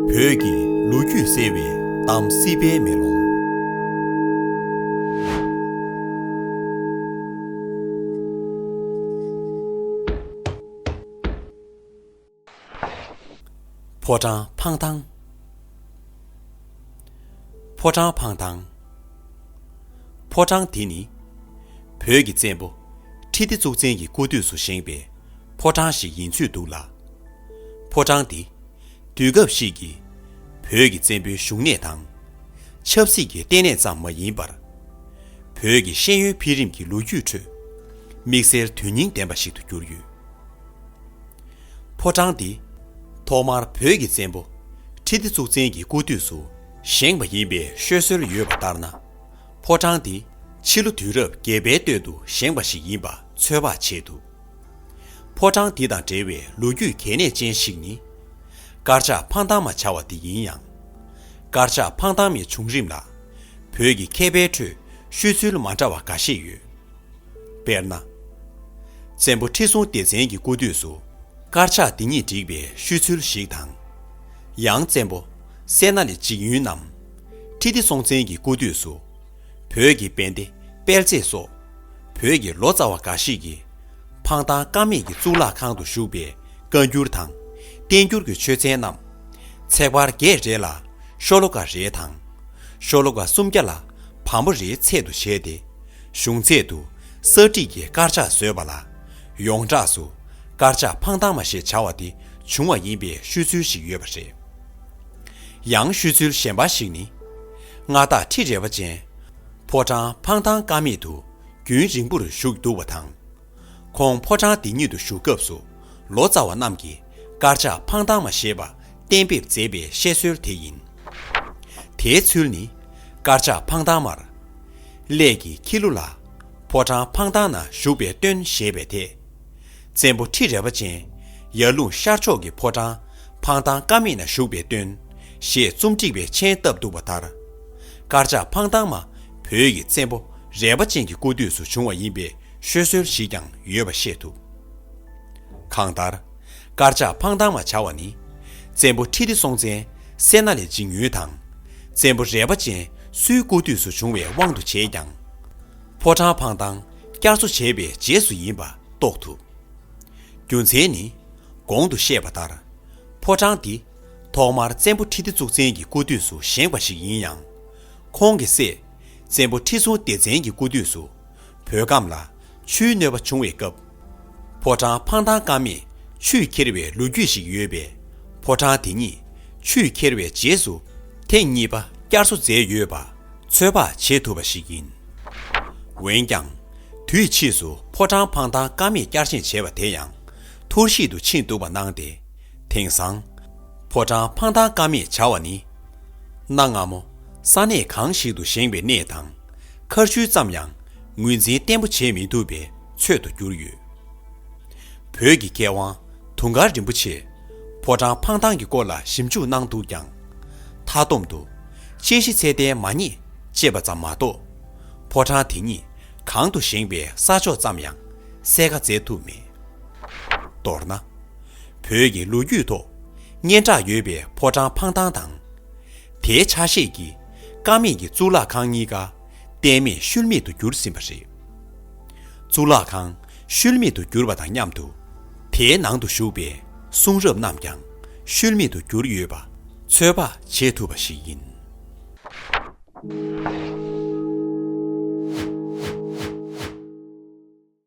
བོད་ཀྱི་ལོ་རྒྱུས་གསལ་བའི་གཏམ་སྲིད་པའི་མེ་ལོང། ཕོ་བྲང་འཕང་ཐང། ཕོ་བྲང་འཕང་ཐང། ཕོ་བྲང་དེ་ནི་བོད་ཀྱི་བཙན་པོ་ཁྲི་ལྡེ་གཙུག་བཙན་གྱི་སྐུ་དུས་སུ་བཞེངས་པའི་ཕོ་བྲང་ཞིག་ཡིན་ཚོད་འདུག་ལ། ཕོ་བྲང་འདི། དུས་སྐབས་ཤིག་གི། བོད་ཀྱི་བཙན་པོའི་བཞུགས་གནས་དང། ཆབ་སྲིད་ཀྱི་བརྟེན་གནས་ཙམ་མ་ཡིན་པར། བོད་ཀྱི་ཤེས་ཡོན་འཕེལ་རིམ་གྱི་ལོ་རྒྱུས་ཁྲོད། དམིགས་བསལ་དོན་སྙིང་ལྡན་པ་ཞིག་ཏུ་གྱུར་ཡོད། ཕོ་བྲང་འདི། ཐོག་མར་བོད་ཀྱི་བཙན་པོ། ཁྲི་ལྡེ་གཙུག་བཙན་གྱི་སྐུ་དུས་སུ་བཞེངས་པ་ཡིན་པའི་ཤོད་སྲོལ་ཡོད་པ་ལྟར་ན། ཕོ་བྲང་འདི། ཕྱི་ལོ་དུས་རབས་བརྒྱད་པའི་སྟོད་དུ་བཞེངས་པ་ཞིག་ཡིན་པ་ཚོད་དཔག་བྱེད་ཐུབ། ཕོ་བྲང་འདི་དང་འབྲེལ་བའི་ལོ་རྒྱུས་གལ་གནད་ཅན་ཞིག་ནི། དཀར་ཆག་འཕང་ཐང་མ་བྱ་བ་འདི་ཡིན་ཡང། དཀར་ཆག་འཕང་ཐང་མའི་བྱུང་རིམ་ལ། བོད་ཀྱི་མཁས་པའི་ཁྲོད་ཤོད་ཚུལ་མ་འདྲ་བ་འགའ་ཤས་ཡོད། དཔེར་ན། བཙན་པོ་ཁྲི་སྲོང་ལྡེ་བཙན་གྱི་སྐུ་དུས་སུ་དཀར་ཆག་འདི་ཉིད་བསྒྲིགས་པའི་ཤོད་ཚུལ་ཞིག་དང། ཡང་བཙན་པོ་སད་ན་ལི་འཇིགས་ཡུན་ནམ། ཁྲི་ལྡེ་སྲོང་བཙན་གྱི་སྐུ་དུས་སུ། བོད་ཀྱི་དཔེ་དེབ་སྤེལ་ཚེས་སོགས། བོད་ཀྱི་ལོ་ཙཱ་བ་འགའ་ཞིག་གིས། འཕང་ཐང་དཀར་མེད་ཀྱི་གཙུག་ལག་ཁང་དུ་བཞུགས་པའི་བཀའ་འགྱུར་དང། བསྟན་འགྱུར་གྱི་ཆོས་ཚན་རྣམས། ཚེག་བར་བརྒྱད་རེ་ལ་ཤོ་ལོ་ཀ་རེ་དང། ཤོ་ལོ་ཀ་སུམ་བརྒྱ་ལ་བམ་པོ་རེའི་ཚད་དུ་བྱས་ཏེ། གཞུང་ཚད་དུ་གསར་བསྒྲིགས་ཀྱི་དཀར་ཆག་བཟོས་པ་ལ། ཡོངས་གྲགས་སུ་དཀར་ཆག་འཕང་ཐང་མ་ཞེས་བྱ་བ་དེ་བྱུང་བ་ཡིན་པའི་ཤོད་ཚུལ་ཞིག་ཡོད་པ་རེད། ཡང་ཤོད་ཚུལ་གཞན་པ་ཞིག་ནི། མངའ་བདག་ཁྲི་རལ་པ་ཅན། ཕོ་བྲང་འཕང་ཐང་ཀ་མེད་དུ་རྒྱུན་རིང་པོར་བཞུགས་འདུག་པ་དང། ཁོང་ཕོ་བྲང་འདི་ཉིད་དུ་བཞུགས་སྐབས་སུ་ལོ་ཙཱ་བ་རྣམས་ཀྱིས་དཀར་ཆག་འཕང་ཐང་མ་ཞེས་པ་གཏན་འབེབས་མཛད་པའི་བཤད་སྲོལ་དེ་ཡིན། དེའི་ཚུལ་ནི། དཀར་ཆག་འཕང་ཐང་མར། སླད་ཀྱི་ཁྱི་ལུ་ལ། ཕོ་བྲང་འཕང་ཐང་ན་བཞུགས་པའི་སྟོན་ཞེས་པའི་དེ། བཙན་པོ་ཁྲི་རལ་པ་ཅན། ཡར་ཀླུང་ཤར་ཕྱོགས་ཀྱི་ཕོ་བྲང། འཕང་ཐང་ཀ་མིག་ན་བཞུགས་པའི་སྟོན། ཞེས་རྩོམ་སྒྲིག་པའི་མཆན་བཏབ་འདུག་པ་ལྟར། དཀར་ཆག་འཕང་ཐང་མ་བོད་ཀྱི་བཙན་པོ་རལ་པ་ཅན་གྱི་སྐུ་དུས་སུ་བྱུང་བ་ཡིན་པའི་ཤོད་སྲོལ་ཞིག་ཀྱང་ཡོད་པ་ཤེས་ཐུབ། གང་ལྟར། དཀར་ཆག་འཕང་ཐང་མ་བྱ་བ་ནི། བཙན་པོ་ཁྲི་ལྡེ་སྲོང་བཙན་སེར་སྣ་ལས་འཇིགས་ཉུལ་དང། བཙན་པོ་རལ་པ་ཅན་སུའི་སྐུ་དུས་སུ་བྱུང་བའི་དབང་དུ་བྱས་ཀྱང། ཕོ་བྲང་འཕང་ཐང་བསྐྱར་གསོ་བྱས་པའི་རྗེས་སུ་ཡིན་པ་རྟོགས་ཐུབ། རྒྱུ་མཚན་ནི། གོང་དུ་བཤད་པ་ལྟར། ཕོ་བྲང་འདི། ཐོག་མར་བཙན་པོ་ཁྲི་ལྡེ་གཙུག་བཙན་གྱི་སྐུ་དུས་སུ་བཞེངས་པ་ཞིག་ཡིན་ཡང། ཁོང་གི་སྲས། བཙན་པོ་ཁྲི་སྲོང་ལྡེ་བཙན་གྱི་སྐུ་དུས་སུ། བོད་ཁམས་ལ། ཆུའི་གནོད་པ་བྱུང་བའི་སྐབས། ཕོ་བྲང་འཕང་ཐང་ཀ་མེད་ཆུས་ཁྱེར་བའི་ལོ་རྒྱུས་ཤིག་ཡོད་པས། ཕོ་བྲང་དེ་ཉིད། ཆུས་ཁྱེར་བའི་རྗེས་སུ། ཐེངས་གཉིས་པ་བསྐྱར་གསོ་མཛད་ཡོད་པ། ཚོད་དཔག་བྱེད་ཐུབ་པ་ཞིག་ཡིན། འོན་ཀྱང། དུས་ཕྱིས་སུ་ཕོ་བྲང་འཕང་ཐང་ཀ་མེད་བསྐྱར་བཞེངས་བྱས་པ་དེ་ཡང། ཐུར་ཤིད་དུ་ཕྱིན་འདུག་པ་སྣང་སྟེ། དེང་སང། ཕོ་བྲང་འཕང་ཐང་ཀ་མེད་བྱ་བ་ནི། གནའ་སྔ་མོ། ས་གནས་གང་ཞིག་ཏུ་བཞེངས་པའི་གནས་དང། མཁར་ཤུལ་ཙམ་ཡང་ངོས་འཛིན་བརྟན་པོ་བྱེད་མི་ཐུབ་པའི་ཚོད་དུ་གྱུར་ཡོད། བོད་ཀྱི་མཁས་དབང། དུང་དཀར་རིན་པོ་ཆེས་ཕོ་བྲང་འཕང་ཐང་གི་སྐོར་ལ་ཞིབ་འཇུག་གནང་འདུག་ཀྱང། མཐའ་སྡོམ་དུ། དཔྱད་གཞི་ཚད་ལྡན་མ་རྙེད་ཅེས་པ་ཙམ་མ་གཏོགས། ཕོ་བྲང་དེ་ཉིད་གང་དུ་བཞེངས་པའི་ས་ཕྱོགས་ཙམ་ཡང་གསལ་ཁ་བཙལ་ཐུབ་མེད། མདོར་ན། བོད་ཀྱི་ལོ་རྒྱུས་ཐོག་སྙན་གྲགས་ཡོད་པའི་ཕོ་བྲང་འཕང་ཐང་དང། དེའི་ཆ་ཤས་ཀྱིས་ཀ་མེད་ཀྱི་གཙུག་ལག་ཁང་གཉིས་ཀ་གཏད་མེད་ཤུལ་མེད་དུ་གྱུར་ཟིན་པ་རེད། གཙུག་ལག་ཁང་བཤོལ་མེད་དུ་གྱུར་པ་དང་མཉམ་དུ། དེའི་ནང་དུ་བཞུགས་པའི་གསུང་རབ་རྣམས་ཀྱང་བཤོལ་མེད་དུ་གྱུར་ཡོད་པ་ཚོད་དཔག་བྱེད་ཐུབ་པ་ཞིག་ཡིན།